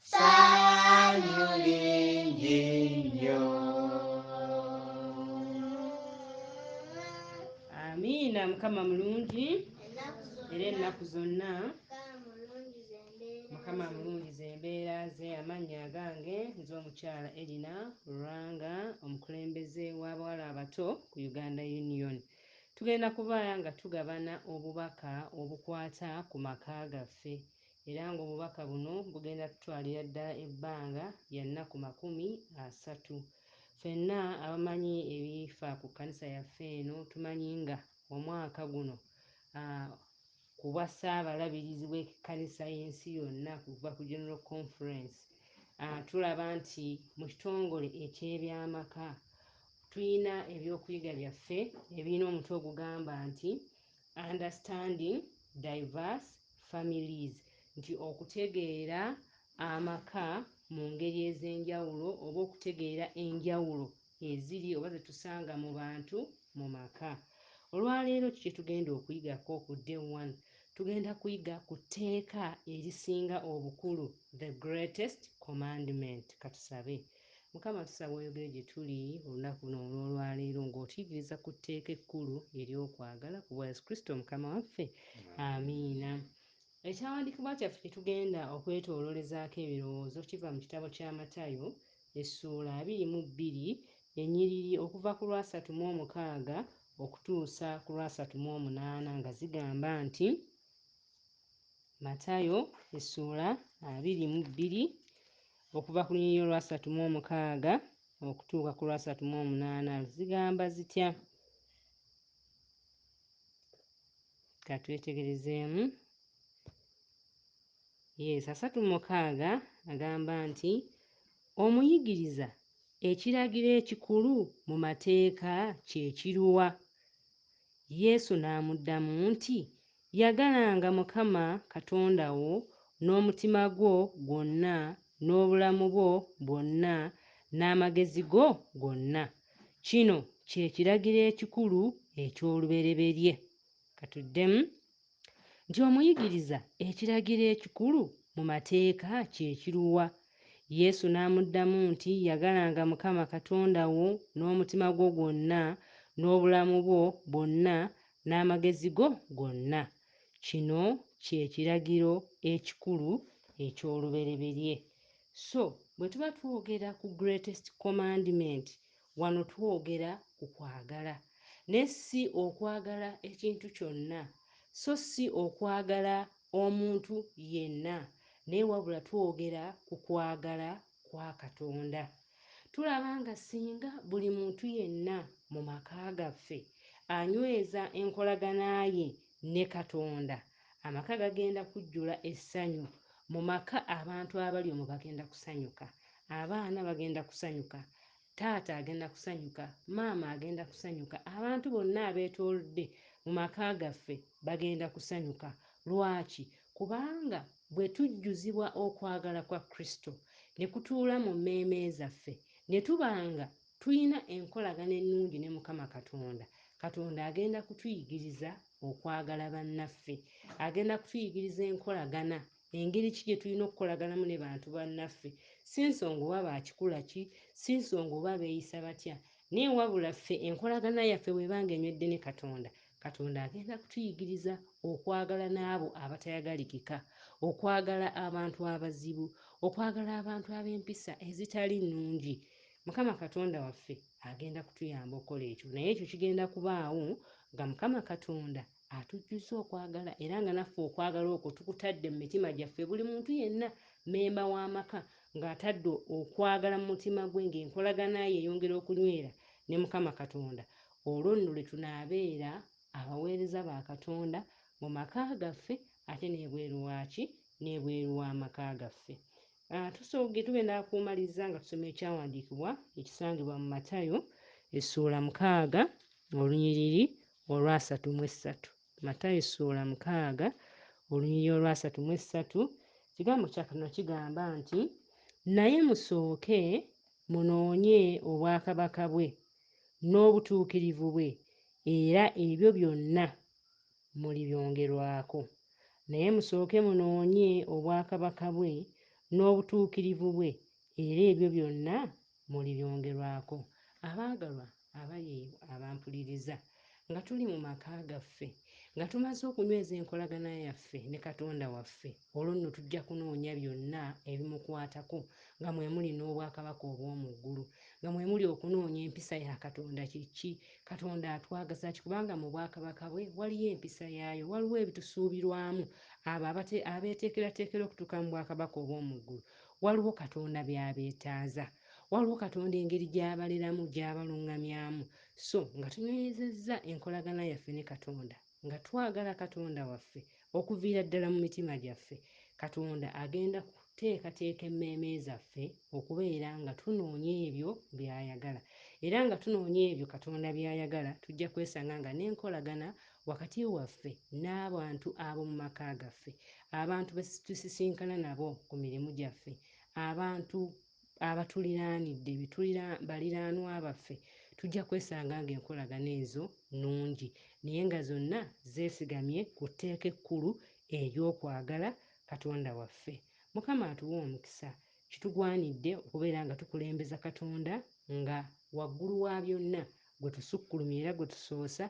Sanyu lingi nnyo. Amiina. Mukama mulungi era ennaku zonna. Mukama mulungi zembeera ze amannya agange nze omukyala Erina Luranga omukulembeze w'abawala abato ku Uganda Union. Tugenda kuba nga tugabana obubaka obukwata ku maka gaffe era ng'obubaka buno bugenda tutwalira ddala ebbanga lya nnaku makumi asatu. Ffenna abamanyi ebifa ku kkanisa yaffe eno tumanyi nga omwaka guno ku bwa Ssaabalabirizi w'ekkanisa y'ensi yonna okuva ku General Conference tulaba nti mu kitongole eky'ebyamaka tulina ebyokuyiga byaffe ebirina omutwe ogugamba nti Understanding Diverse families, nti okutegeera amaka mu ngeri ez'enjawulo oba okutegeera enjawulo eziri oba zetusanga mu bantu mu maka. Olwaleero ki kyetugenda okuyiga ko ku day one? Tugenda kuyiga ku tteeka erisinga obukulu, the greatest commandment. Katusabe. Mukama tusaba oyogere gye tuli olunaku luno olw'olwaleero ng'otuigiriza ku tteeka ekkulu ery'okwagala ku bwa Yesu Kristo Mukama waffe. Amiina. Ekyawandiikibwa kyaffe kye tugenda okwetoolorezaako ebirowoozo kiva mu kitabo kya Matayo essuula abiri mu bbiri ennyiriri okuva ku lw'asatu mu omukaaga okutuusa ku lw'asatu mu omunaana nga zigamba nti Matayo essuula abiri mu bbiri Okuva ku lunyiriri olwasatu mu omukaaga okutuuka ku lwasatu mu omunaana zigamba zitya? Ka twetegerezeemu. Yes, asatu mu mukaaga agamba nti omuyigiriza ekiragiro ekikulu mu mateeka kye kiruwa? Yesu n'amuddamu nti Yagalanga Mukama Katonda wo n'omutima gwo gwonna, n'obulamu bwo bwonna, n'amagezi go gonna. Kino kye kiragiro ekikulu eky'olubereberye. Ka tuddemu nti, Omuyigiriza, ekiragiro ekikulu mu Mateeka kye kiruwa? Yesu n'amuddamu nti, Yagalanga Mukama Katonda wo n'omutima gwo gwonna, n'obulamu bwo bwonna, n'amagezi go gonna. Kino kye kiragiro ekikulu eky'olubereberye. So, bwe tuba twogera ku greatest commandment, wano twogera ku kwagala, ne ssi okwagala ekintu kyonna, so ssi okwagala omuntu yenna, naye wabula twogera ku kwagala kwa Katonda. Tulaba nga singa buli muntu yenna mu maka gaffe anyweza enkolagana ye ne Katonda, amaka gagenda kujjula essanyu. Mu maka abantu abali omwo bagenda kusanyuka, abaana bagenda kusanyuka, Taata agenda kusanyuka, maama agenda kusanyuka, abantu bonna abeetoolodde mu maka gaffe bagenda kusanyuka. Lwaki? Kubanga bwe tujjuzibwa okwagala kwa Kristo ne kutuula mu mmeeme zaffe, ne tuba nga tulina enkolagana ennungi ne Mukama Katonda, Katonda agenda kutuyigiriza okwagala bannaffe. Agenda kutuyigiriza enkolagana Engeri ki gye tulina okukolaganamu ne bantu bannaffe? Si nsonga oba ba kikula ki, si nsonga oba beeyisa batya, naye wabula ffe enkolagana yaffe bw'eba ng'enywedde ne Katonda, Katonda agenda kutuyigiriza okwagala n'abo abatayagalikika, okwagala abantu abazibu, okwagala abantu ab'empisa ezitali nnungi. Mukama Katonda waffe agenda kutuyamba okukola ekyo, naye ekyo kigenda kubaawo nga Mukama Katonda Atujjuzza okwagala era nga naffe okwagala okwo tukutadde mu mitima gyaffe. Buli muntu yenna mmemba w'amaka ng'atadde okwagala mu mutima gwe ng'enkolagana ye eyongera okunywera ne Mukama Katonda, olwo nno lwe tunaabeera abaweereza ba Katonda mu maka gaffe ate n'ebweru waaki? N'ebweru w'amaka gaffe. Tusooge tube n'akumaliza nga tusoma ekyawandiikibwa ekisangibwa mu Matayo essuula mukaaga olunyiriri olwasatu mu essatu. Matayo ssuula mukaaga olunyiriri olwasatu mu essatu ekigambo kya Katonda kigamba nti naye musooke munoonye obwakabaka bwe n'obutuukirivu bwe era ebyo byonna mulibyongerwako. Naye musooke munoonye obwakabaka bwe n'obutuukirivu bwe era ebyo byonna mulibyongerwako. Abaagalwa, Abayi abampuliriza, nga tuli mu maka gaffe, nga tumaze okunyweza enkolagana yaffe ne Katonda waffe, olwo nno tujja kunoonya byonna ebimukwatako, nga mwe muli n'obwakabaka obw'omu ggulu, nga mwe muli okunoonya empisa ya Katonda kye ki, Katonda atwagaza ki, kubanga mu bwakabaka bwe waliyo empisa yaayo, waliwo ebitusuubirwamu abo abate, abeeteekerateekera okutuuka mu bwakabaka obw'omu ggulu, waliwo Katonda by'abeetaaza. Waliwo Katonda engeri gy'abaleramu, gy'abalungamyamu, so nga tunywezezza enkolagana yaffe ne Katonda, nga twagala Katonda waffe okuviira ddala mu mitima gyaffe, Katonda agenda kuteekateeka emmeeme zaffe okubeera nga tunoonya ebyo by'ayagala. Era nga tunoonya ebyo Katonda by'ayagala, tujja kwesanga nga n'enkolagana wakati waffe n'abantu ab'omu maka gaffe, abantu be tusisinkana nabo ku mirimu gyaffe, abantu abatuliraanidde be tulira baliraanwa baffe tujja kwesanga ng'enkolagana ezo nnungi naye nga zonna zeesigamye ku tteeka ekkulu ery'okwagala Katonda waffe. Mukama atuwe omukisa. Kitugwanidde okubeera nga tukulembeza Katonda nga Waggulu wa byonna gwe tusukkulumya era gwe tusoosa,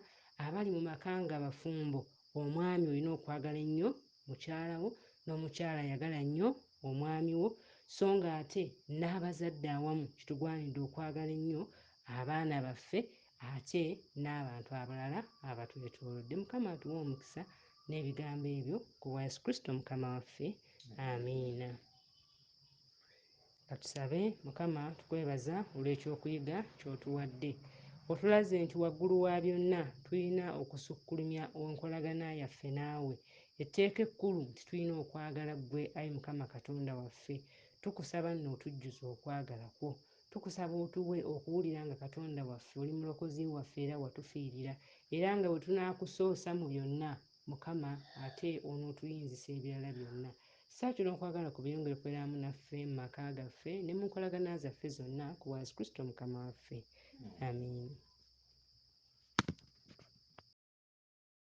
abali mu maka nga bafumbo, omwami olina okwagala ennyo mukyala wo n'omukyala yagala nnyo omwami wo so ng'ate n'abazadde awamu kitugwanidde okwagala ennyo abaana baffe ate n'abantu abalala abatwetoolodde. Mukama atuwe omukisa n'ebigambo ebyo ku bwa Yesu Kristo Mukama waffe. Amiina. Katusabe. Mukama tukwebaza olw'ekyokuyiga ky'otuwadde. Otulaze nti waggulu wa byonna tulina okusukkulumya enkolagana yaffe naawe. Etteeka ekkulu nti tulina okwagala ggwe, ayi Mukama Katonda waffe. Tukusaba nno otujjuze okwagala kwo. Tukusaba otuwe okuwulira nga Katonda waffe oli mulokozi waffe era watufiirira, era nga bwe tunaakusoosa mu byonna Mukama, ate onootuyinzisa ebirala byonna. Ssaawa kyonna okwagala kwo byeyongere okubeera wamu naffe, mu maka gaffe, ne mu nkolagana zaffe zonna, ku bwa Yesu Kristo Mukama waffe. Amiina.